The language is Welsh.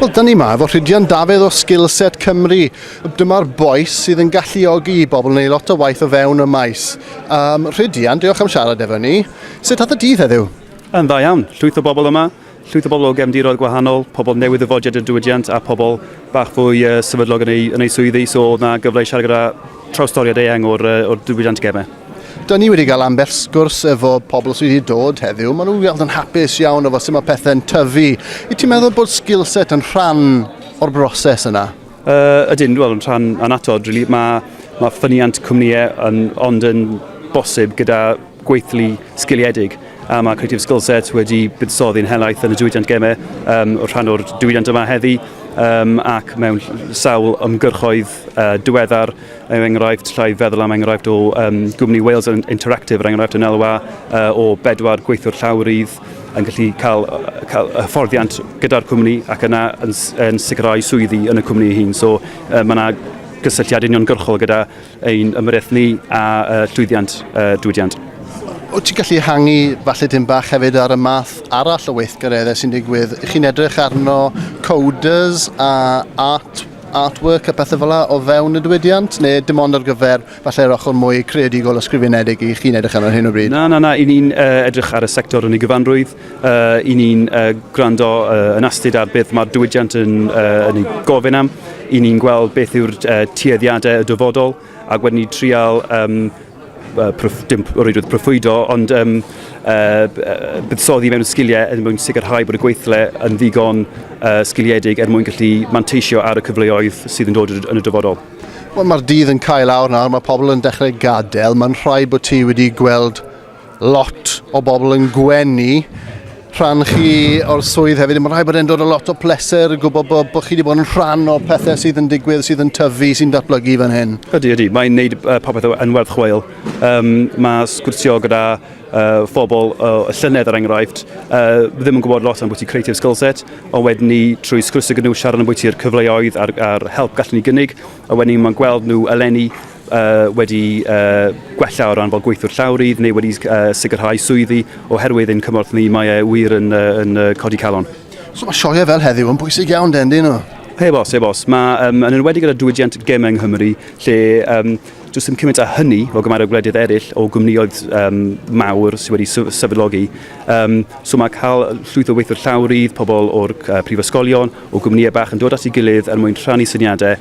Wel, dyn ni yma efo Rhydian Dafydd o Skillset Cymru. Dyma'r boes sydd yn galluogi i bobl wneud lot o waith o fewn y maes. Um, Rhydian, diolch am siarad efo ni. Sut oedd y dydd heddiw? Yn dda iawn. Llwyth o bobl yma. Llwyth o bobl o gefndiroedd gwahanol, pobl newydd ddyfodiad y diwydiant a pobl bach fwy uh, sefydlog yn ei, yn ei swyddi, so oedd yna gyfle i siarad gyda trawstoriad eang o'r, uh, or diwydiant gemau. Da ni wedi cael ambell sgwrs efo pobl sydd wedi dod heddiw. Maen nhw'n weld yn hapus iawn efo sut mae pethau'n tyfu. I ti'n meddwl bod skill set yn rhan o'r broses yna? Uh, ydyn, wel, yn rhan anatod, really. Mae ma ffyniant cwmnïau yn, ond yn bosib gyda gweithlu sgiliedig. a mae Creative Skillset wedi buddsoddi'n helaeth yn y diwydiant gemau um, o'r rhan o'r diwydiant yma heddi um, ac mewn sawl ymgyrchoedd uh, diweddar er enghraifft llai feddwl am enghraifft o um, gwmni Wales Interactive er enghraifft yn elwa uh, o bedwar gweithio'r llawrydd yn gallu cael, cael hyfforddiant gyda'r cwmni ac yna yn, yn sicrhau swyddi yn y cwmni hyn. So uh, mae yna gysylltiad uniongyrchol gyda ein ymyrraeth ni a llwyddiant y diwydiant. Wyt ti'n gallu hangi falle dim bach hefyd ar y math arall o weithgareddau sy'n digwydd? Ych chi'n edrych arno coders a art artwork a pethau fel o fewn y diwydiant, neu dim ond ar gyfer falle'r ochr mwy creadigol o sgrifenedig i chi'n edrych arno hyn o bryd? Na, na, na, i ni'n uh, edrych ar y sector yn ei gyfanrwydd. Uh, I ni'n uh, gwrando uh, yn astud ar beth mae'r diwydiant yn, uh, yn ei gofyn am, i ni'n gweld beth yw'r uh, tueddiadau y dyfodol, ac wedyn ni trial um, uh, prof, dim rhywbeth profwydo, ond um, uh, buddsoddi mewn sgiliau er mwyn sicrhau bod y gweithle yn ddigon uh, sgiliedig er mwyn gallu manteisio ar y cyfleoedd sydd yn dod yn y dyfodol. Wel, mae'r dydd yn cael awr nawr, mae pobl yn dechrau gadael. Mae'n rhaid bod ti wedi gweld lot o bobl yn gwenu rhan chi o'r swydd hefyd. Mae'n rhaid bod e'n dod o lot o pleser, gwybod bod, bod chi wedi bod yn rhan o'r pethau sydd yn digwydd, sydd yn tyfu, sy'n datblygu fan hyn. Ydy, ydy. Mae'n neud uh, popeth yn werth chweil. Um, mae sgwrsio gyda uh, phobl o uh, llynedd, er enghraifft, uh, ddim yn gwybod lot am bwyty creative skill set, ond wedyn ni trwy sgwrsio gyda nhw, siarad am bwyty'r cyfleoedd a'r, ar help gallen ni gynnig, a wedyn ni mae'n gweld nhw eleni uh, wedi uh, gwella o ran fel gweithwyr llawrydd neu wedi uh, sicrhau swyddi oherwydd ein cymorth ni mae e wir yn, uh, yn uh, codi calon. So mae sioe fel heddiw yn bwysig iawn den dyn nhw? Heb os, heb os. Mae um, yn enwedig gyda diwydiant gem yng Nghymru, lle um, dwi'n sy'n cymaint â hynny o gymaint o gwledydd eraill o gwmnioedd um, mawr sydd wedi sefydlogi. Um, so mae cael llwyth o weithwyr llawrydd, pobl o'r uh, prifysgolion, o gwmnïau bach yn dod at ei gilydd er mwyn rhannu syniadau